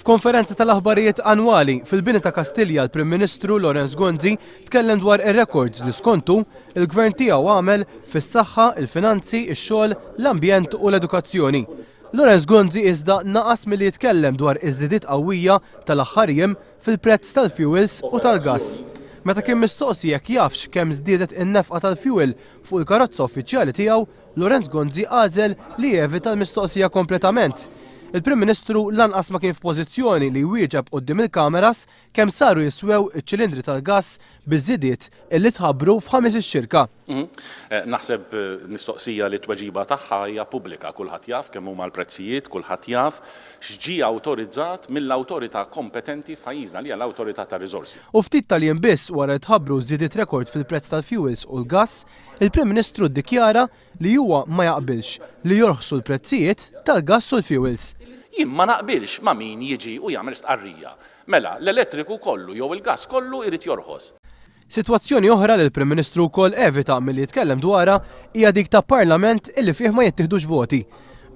F'konferenza tal-aħbarijiet annwali fil-Bini ta' Kastilja l-Prim Ministru Lawrence Gonzi tkellem dwar ir-rekords li skontu l-Gvern tiegħu għamel fis-saħħa, il-finanzi, ix-xogħol, l-ambjent u l-edukazzjoni. Lawrence Gonzi iżda naqas milli jitkellem dwar iż-żidiet qawwija tal-aħħar jiem fil-prezz tal-fjuwils u tal-gass. Meta kien mistoqsi jekk jafx kemm żdiedet in-nefqa tal-fjuwil fuq il-karozza uffiċjali tiegħu, Lorenz Gonzi għażel li jevita l-mistoqsija kompletament. Il-Prim Ministru lanqas ma kien f'pożizzjoni li jwieġeb quddiem il-kameras kemm saru jiswew iċ-ċilindri tal-gass biż-żidiet illi tħabbru f'ħames ix-xirka. Naħseb mistoqsija li t-tweġiba tagħha hija pubblika, kulħadd jaf kemm huma l-prezzijiet, kulħadd jaf x'ġie awtorizzat mill-awtorità kompetenti f'pajjiżna li hija l-Awtorità tar-Riżorsi. U ftit tal-jiem biss wara li tħabbru żidiet rekord fil-prezz tal-fjuwils u l-gass, Il-Prim Ministru ddikjara li huwa ma jaqbilx li jorħsu l-prezzijiet tal-gass u l-fjuwils. Jien ma naqbilx ma' min jiġi u jagħmel stqarrija, mela l-elettriku kollu jew il-gass kollu jrid jorħos. Sitwazzjoni oħra li l-Prim Ministru wkoll evita milli jitkellem dwarha hija dik ta' Parlament illi fih ma jittieħdux voti.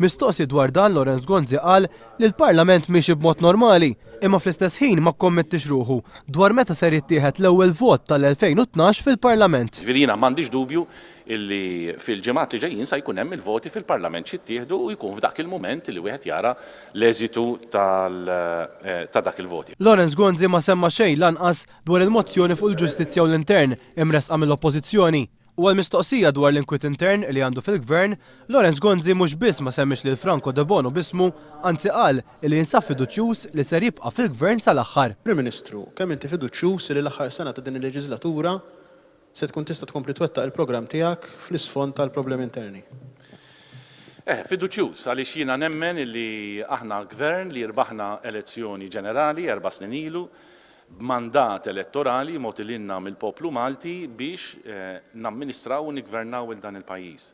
Mistoqsi dwar dan Lawrence Gonzi qal li l-Parlament miexi b'mod normali imma fl-istess ħin ma kkommettiex ruħu dwar meta ser jittieħed l-ewwel vot tal-2012 fil-Parlament. Ġifieri jiena m'għandix dubju li fil-ġimgħat li ġejjin sa jkun hemm il-voti fil-Parlament x'jittieħdu u jkun f'dak il-mument li wieħed jara l-eżitu ta' dak il-vot. Lawrence Gonzi ma semma xejn lanqas dwar il-mozzjoni fuq il-ġustizzja u l-intern imressqa mill-Oppożizzjoni U għall-mistoqsija dwar l-inkwiet intern li għandu fil-Gvern, Lawrence Gonzi mhux biss ma semmiex lil Franco Debono b'ismu, anzi qal illi jinsab fiduċjuż li ser jibqa' fil-Gvern sal-aħħar. Prim Ministru, kemm inti fiduċjuż li l-aħħar sena ta' din il-leġiżlatura se tkun tista' tkompli twettaq il-programm tiegħek fl-isfond tal-problemi interni? Eh, fiduċjuż, għaliex jiena nemmen illi aħna Gvern li rbaħna elezzjoni ġenerali erba' snin ilu, b'mandat elettorali mogħti lilna mill-poplu Malti biex namministraw u niggvernaw 'il dan il-pajjiż.